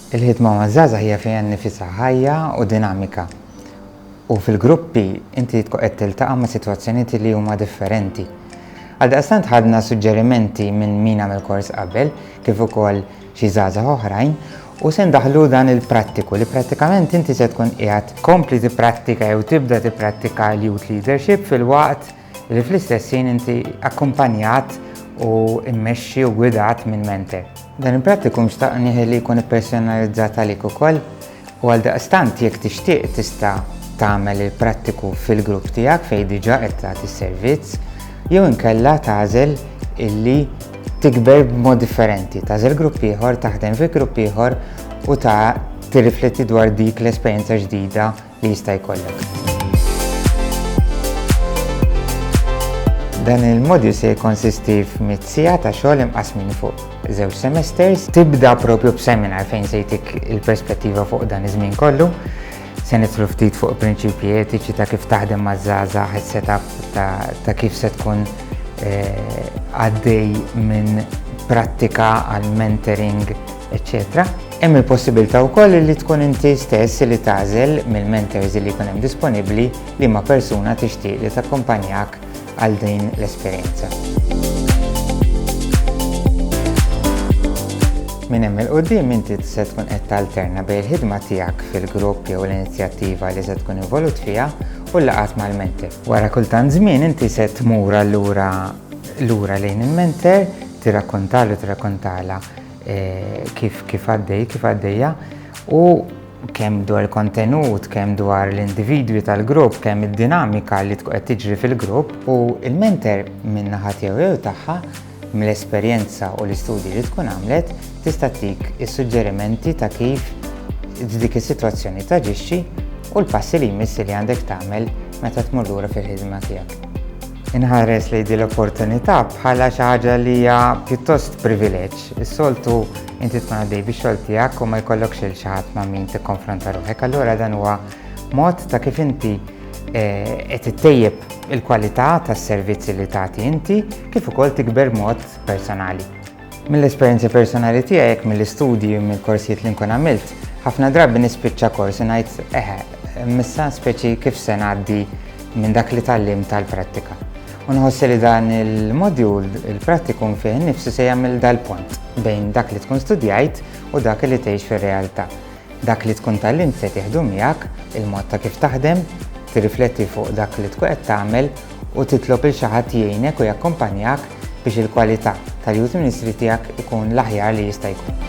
Il-ħidma maż-żgħażagħ hija fiha nnifisha ħajja u dinamika u fil-gruppi inti tkun qed tiltaqa' ma' sitwazzjonijiet li huma differenti. Għaldaqstant ħadna suġġerimenti minn min għamel kors qabel kif ukoll xi żgħażagħ oħrajn u se ndaħħlu dan il-prattiku li prattikament inti se tkun qiegħed tkompli tipprattika jew tibda tipprattika l-Youth Leadership filwaqt li fl-istess ħin inti akkumpanjat u mmexxi u gwidat minn mentor. Dan il-prattikum xtaq nieħi li jkun ippersonalizzat għalik ukoll u għal daqstant jekk tixtieq tista' tagħmel il-prattiku fil-grupp tiegħek fejn diġà qed tagħti s-servizz jew inkella tagħżel illi tikber b'mod differenti, tagħżel grupp ieħor, taħdem fi grupp ieħor u ta' tirrifletti dwar dik l-esperjenza ġdida li jista' jkollok. Dan il-modju se jikkonsisti f'mitt siegħa ta' xogħol imqasmin fuq żewġ semesters. Tibda propju b'seminar fejn se jtik il-perspettiva fuq dan iż-żmien kollu. Se nitlu ftit fuq prinċipji etiċi ta' kif taħdem maż-żgħażagħ is-setup ta' kif se tkun eh, għaddej minn prattika għal mentoring eċċetera Hemm il-possibilità wkoll li tkun inti stess li tagħżel mill-mentors li jkun hemm disponibbli liema persuna tixtieq li takkumpanjak għal din l-esperjenza. Minn hemm il-qudiem inti se tkun qed talterna bejn il-ħidma tiegħek fil-grupp jew l-inizjattiva li se tkun involut fiha u l-laqgħat mal-menter. Wara kultant żmien inti se tmur allura lura lejn il-menter tirrakkontalu tirrakkontala kif kif għaddej, kif għaddejja, u kemm dwar kontenut, kemm dwar l-individwi tal-grupp, kemm id-dinamika li tkun qed tiġri fil-grupp u il-mentor minn naħa tiegħu jew tagħha mill-esperjenza u l-istudji li tkun għamlet tista' tik is-suġġerimenti ta' kif dik is-sitwazzjoni taġixxi u l-passi li jmiss li għandek tagħmel meta tmur lura fil-ħidma tiegħek. Inħares lejn din l-opportunità bħala xi ħaġa li hija pjuttost privileġġ. Is-soltu inti tkun għaddej bix-xogħol tiegħek u ma jkollokx il xi ħadd ma' min tikkonfronta ruħek, allura dan huwa mod ta' kif inti eh, qed ittejjeb il-kwalità tas-servizzi li tagħti inti kif ukoll tikber mod personali. Mill-esperjenzi personali tiegħi jekk mill-istudji u mill-korsijiet li nkun għamilt, ħafna drabi nispiċċa kors u ngħid eħe, missa speċi kif se ngħaddi minn dak li tallim tal-prattika. U nħossi li dan il-modjul, il-prattikum fih nifsu se jagħmel dal-pont bejn dak li tkun studjajt u dak li tgħix fir-realtà. Dak li tkun tgħallimt se tieħdu miegħek, il-mod ta' kif taħdem, tirrifletti fuq dak li tkun qed tagħmel u titlob lil xi ħadd jgħinek u jakkumpanjak biex il-kwalità tal-youth ministry tiegħek ikun l-aħjar li jista' jkun.